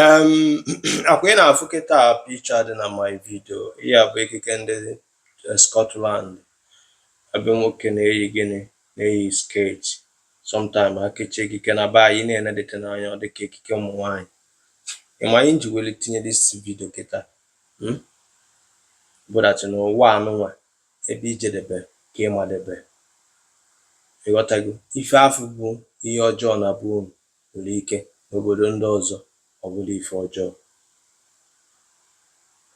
Um, akwa ị na-afụ kịta picture dị na my video ihe a bụ ekike ndị eh, Scotland ebe nwoke na-eyi gịnị na-eyi skirt sometime akechi ekike na be anyị na-enedete n'anya ọ dịka ekike ụmụ nwaanyị ị ma ihe m ji weli tinye this video kịta hmm? bụ that na ụwa anụnwa ebe ijedebe ka ịmadebe ịghọtago ife afụ bụ ihe ọjọọ na be unu nwere ike n'obodo ndị ọzọ ọ bụrọ ife ọjọọ.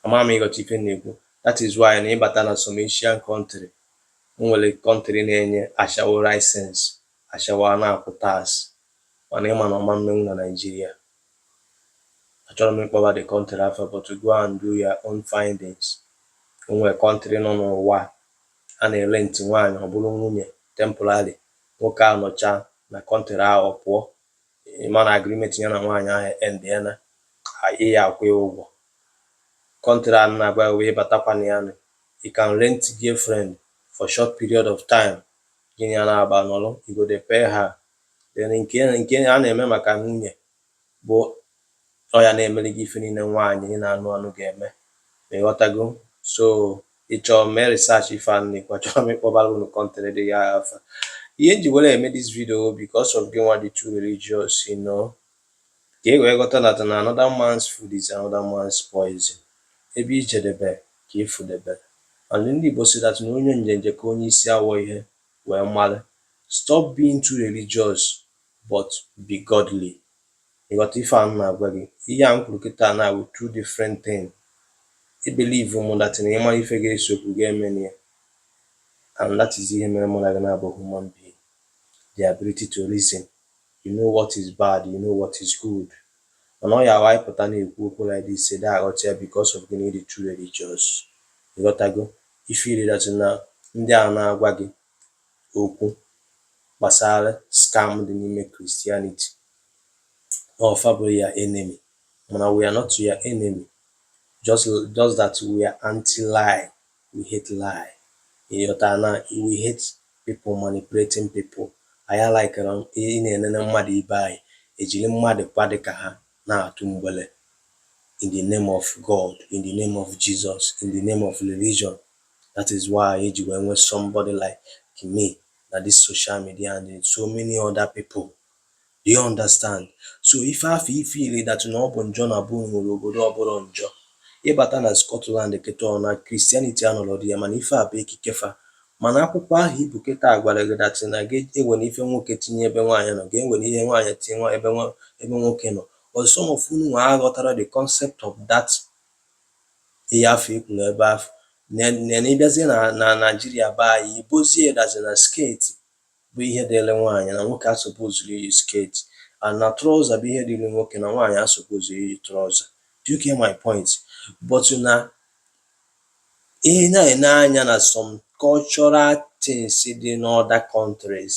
Ama m ị ghọta ife m na-ekwu. That is why na ịbata na some Asian country, o nwere country na-enye ashawo license, ashawo a na-akwụ tax, mana ịma na ọ ma mmenwu na Nigeria. Achọrọ m ịkpọba the country afa but go and do your own findings. O nwere country nọ n'ụwa a na-erent nwaanyị ọ bụrụ nwunye temporary Nwoke ahụ nọcha na country ahụ ọ pụọ, ị ma na agreement ya na nwaanyị ahụ endiela, ị ya akwụ ya ụgwọ. Country a m na-agwa gị bụ ị batakwa na ya nụ, you can rent girlfriend for short period of time, gị na ya na-agba nọrọ, you go dey pay her. Then nke nke a na-eme maka nwunye, bụ ọ ya na-emeli gị ife niile nwaanyị ị na-anụ anụ ga-eme ma ịghọtago so ịchọ mee research ife a m na-ekwu achọrọ m ịkpọbara unu country ndị a afa ihe m ji were eme this video because of gị nwa dị too religious you know ka ị wee ghọta that na another man's food is another man's poison ebe ijedebe ka ịfụdebe and ndị Igbo sị that na onye njenje ka onye isi awọ ihe wee mara stop being too religious but be godly. Ị ghọta ife a m na-agwa gị? Ihe a m kwuru kịta na awụ two different thing. I believe mụ that na ịma ife ga-ese okwu ga-emeni ya and that is ihe mere mụ na gị na-abụ human being. The ability to reason. You know what is bad, you know what is good. Mana ọ ya awụ anyị pụta na-ekwu okwu like this ị dị aghọta ya because of gịnị ịdị too religious. Ị ghọtago? Ị feel that na ndị a na-agwa gị okwu gbasara scam dị n'ime Christianity ọ fa bụrụ your enemy mana we are not your enemy just just that we are anti lie we hate lie ị ghọtara na we hate people manipulating people anyị alikerọ ị na-enene mmadụ ibe anyị ejiri mmadụ kwa dị ka ha na-atụ mgbele in the name of God in the name of Jesus in the name of religion That is why e ji wee nwee somebody like me na this social media and so many other people. Do you understand? So ife afọ i feel that na ọ bụ njọ na be unu, e nwere obodo ọ bụrọ njọ. Ị bata na Scotland kịta ọ na Christianity anọrọ dị ya mana ife a bụ ekike fa. Mana akwụkwọ ahụ i bu kịta a gwara gị that na gị ewere ife nwoke tinye ebe nwaanyị nọ, gị ewere ihe nwaanyị tinye nwa- ebe nwa- ebe nwoke nọ. But some of unu nwa aghọtarọ the concept of that ihe afọ i kwuru ebe afọ na ị bịazie na Nigeria be anyị ibozie dazi na skirt bụ ihe dịrị nwaanyị na nwoke asupposerọ iyi skirt and na trouser bụ ihe dịrị nwoke na nwaanyị asupposerọ iyi trouser do you get my point but na ị na-ene anya na some cultural things dị n'other countries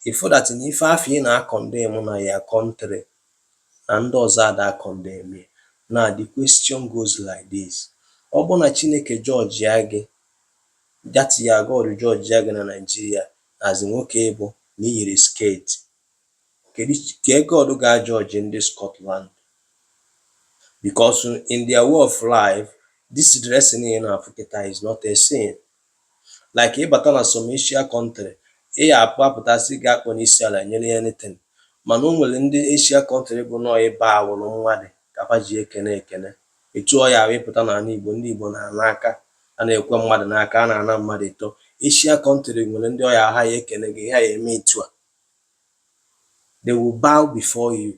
ị fụ that na ife afọ ị na-acondemn na your country na ndị ọzọ ada acondemn ya. Now the question goes like this, ọ bụrụ na Chineke judgịa gị, that is your God judgịa gị na Nigeria as nwoke ị bụ na i yiri skirt, kedu ka God ga-ajudge ndị Scotland? Because in their way of life, this dressing ị na-afụ kịta is not a sin. Like ị bata na some Asia country, ị ya apụ apụta sị gị akpọna isi ala nyere anything. Mana o nwere ndị Asia country bụ na ọ ị bowụrụ mmadụ ka fa ji ekene ekene. Etu ọ ya awụ ị pụta n'anị Igbo, ndị Igbo na-ana aka, a na-ekwe mmadụ n'aka, a na-ana mmadụ ịtọ. Asia country nwere ndị ọ ya awụ ha ya ekene gị, ha ya eme etu a. They will bow before you.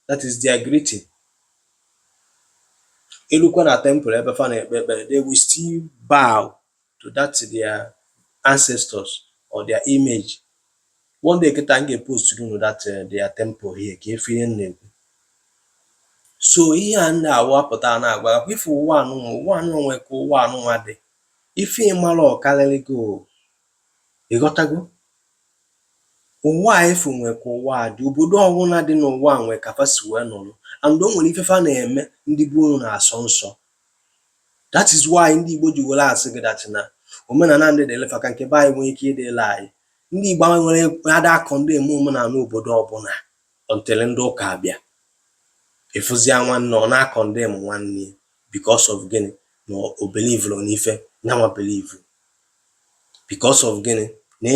that is their greeting e lukwa na temple ebe fa na-ekpe ekpere they will still bow to that their ancestors or their image one day kịta m ga-epost unu that uh, their temple here ka ị fụ ife m na-ekwu so ihe a m na-awapụta na-agwa gị ị fụ ụwa anụnwa ụwa anụnwa nwe ka ụwa anụnwa dị ife ị marọ karịrị gị Ị ghọtago? Ụwa a ị fụ nwe ka ụwa a dị. Obodo ọwụla dị n'ụwa a nwe ka fa si wee nọrọ. And o nwere ife fa na-eme ndị be unu na-asọ nsọ. That is why ndị Igbo ji were asị gị that na omenala ndị dịrị fa ka nke be anyị nwee ike ịdịrị anyị. Ndị Igbo anyị nwa ada acondemn omenala obodo ọbụla until ndị ụka abịa. Ị fụzịa nwanne ọ na-acondemn nwanne ya because of gịnị? Na o believerọ n'ife nyanwa believeru. Because of gịnị? Na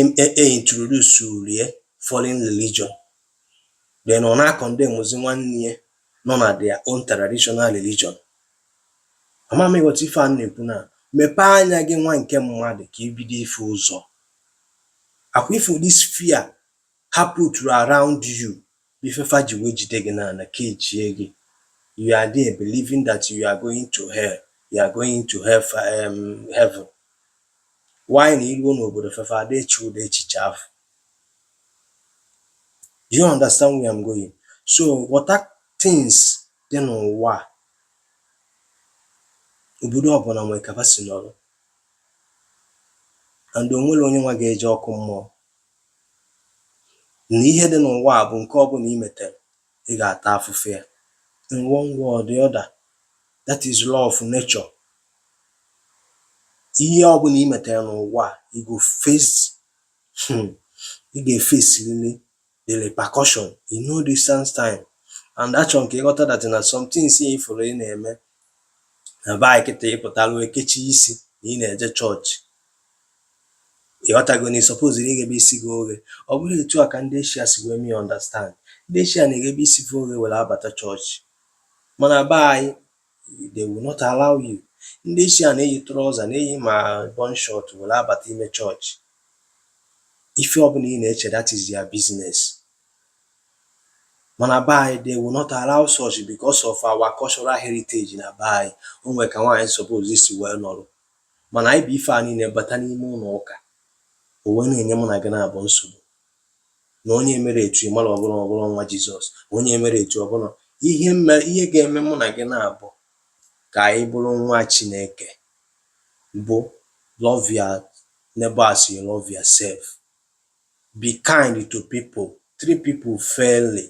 e introduceuru ya foreign religion. Then ọ na-acondemnzi nwanne ya nọ na their own traditional religion. Ama m ị ghọta ife a m na-ekwu na mepee anya gị nwa nke mmadụ ka i bido ịfụ ụzọ. Ọkwa ị fụ this fear ha puturu around you Ife fa ji wee jide gị n'ana kechie gị, you are there believing that you are going to hell, you are going to hell um, heaven. While na i ruo n'obodo fa fa ada eche ụdị echiche afụ? Do you understand where I'm going? So ghọta things dị n'ụwa obodo ọbụla nwere ka fa si nọrọ and o nwerọ onye nwa ga-eje ọkụ mmụọ na ihe dị n'ụwa a bụ nke ọbụla i metere, ị ga-ata afụfụ ya. In one way or the other, that is law of nature. Ihe ọbụla i metere n'ụwa a, you go face hmm, ị ga-efesirili the repercussion in no distance time. And achọrọ m ka ị ghọta that na some things ị fụrụ ị na-eme na be anyị kịta ị pụtara kechie isi na ị na-eje chọọchị ịghọtago na ị suppose na ighebe isi gị oghe ọ bụrọ etu a ka ndị eshia si wee mee understand ndị eshia na-eghebe isi gị oghe were abata chọọchị mana be anyị they will not allow you ndị eshia na-eyi trouser na-eyi ma bum short were abata ime chọọchị ife ọbụla ị na-eche that is your business Mana be anyị, they will not allow such because of our cultural heritage na be anyị, o nwere ka nwaanyị suppose isi wee nọrọ. Mana anyị bu ife a niile bata n'ime ụlọ ụka, o wee na-enye mụ na gị naabọ nsogbu. Na onye emerọ etu ị mara ọ bụrọ ọ bụrọ nwa Jizọs, onye emerọ etu ọ bụrọ ihe ga-eme mụ na gị naabọ ka anyị bụrụ nwa Chineke bụ love your neighbor as you love yourself. Be kind to people, treat people fairly.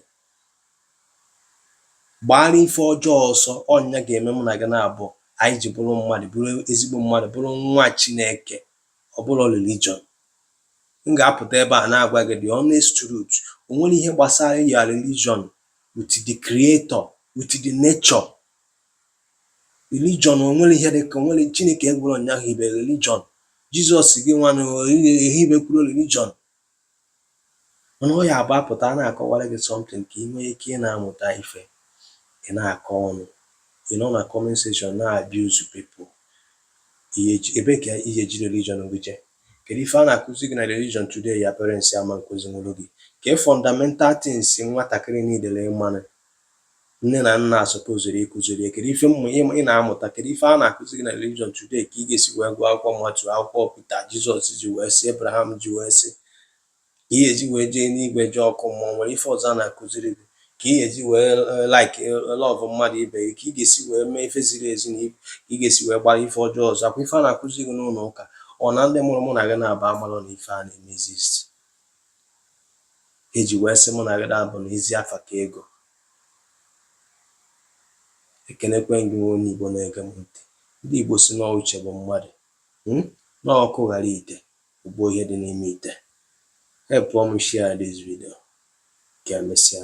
Gbaara ife ọjọọ ọsọ, ọ nya ga-eme mụ na gị naabọ anyị ji bụrụ mmadụ, bụrụ ezigbo mmadụ, bụrụ nwa Chineke, ọ bụrọ religion. M ga-apụta ebe a na-agwa gị the honest truth. O nwerọ ihe gbasara your religion with the creator, with the nature, religion o nwerọ ihe dị ka o nwerọ chineke gwara onye ahụ hibe religion jizọs gị nwanụ ehibekwarọ religion mana ọ ya bụ a pụta a na-akọwara gị something ka ị nwee ike ị na-amụta ife ị na-akọ ọnụ ị nọ na comment section na-abuse people ihe eji- ebe ka i ji religion gị eje kedu ife a na-akụzi gị na religion today your parents ama akụzinwuru gị ka fundamental things nwatakịrị niile ịmanụ Nne na nna a supposuru ịkụziri ya kedu ife mmụ ị na-amụta kedu ife a na-akụzi gị na religion today ka ị ga-esi wee gụọ akwụkwọ Matiu akwụkwọ Pita Jizọs ji wee sị Abraham ji wee sị ka ị ga-eji wee jee enigwe jee ọkụ mmụọ nwere ife ọzọ a na-akụziri gị ka ị ga-eji wee eh, like eh, love mmadụ ibe gị ka ị ga-esi wee mee ife ziri ezi na ka ị ga-esi wee gbara ife ọjọọ ọsọ ọ kwa ife a na-akụzi gị n'ụlọ ụka ọ na ndị mụrụ mụ na gị naabọ amarọ na ife a na-eme exist E ji wee sị mụ na gị na-abụ na ezi afa ka ego. Ekenekwe m gị nwa onye Igbo na-ege m ntị. Ndị Igbo sị na uche bụ mmadụ. Hmm? Na ọkụ ghara ite, o gbuo ihe dị n'ime ite. Help m share this video. Ka emesịa.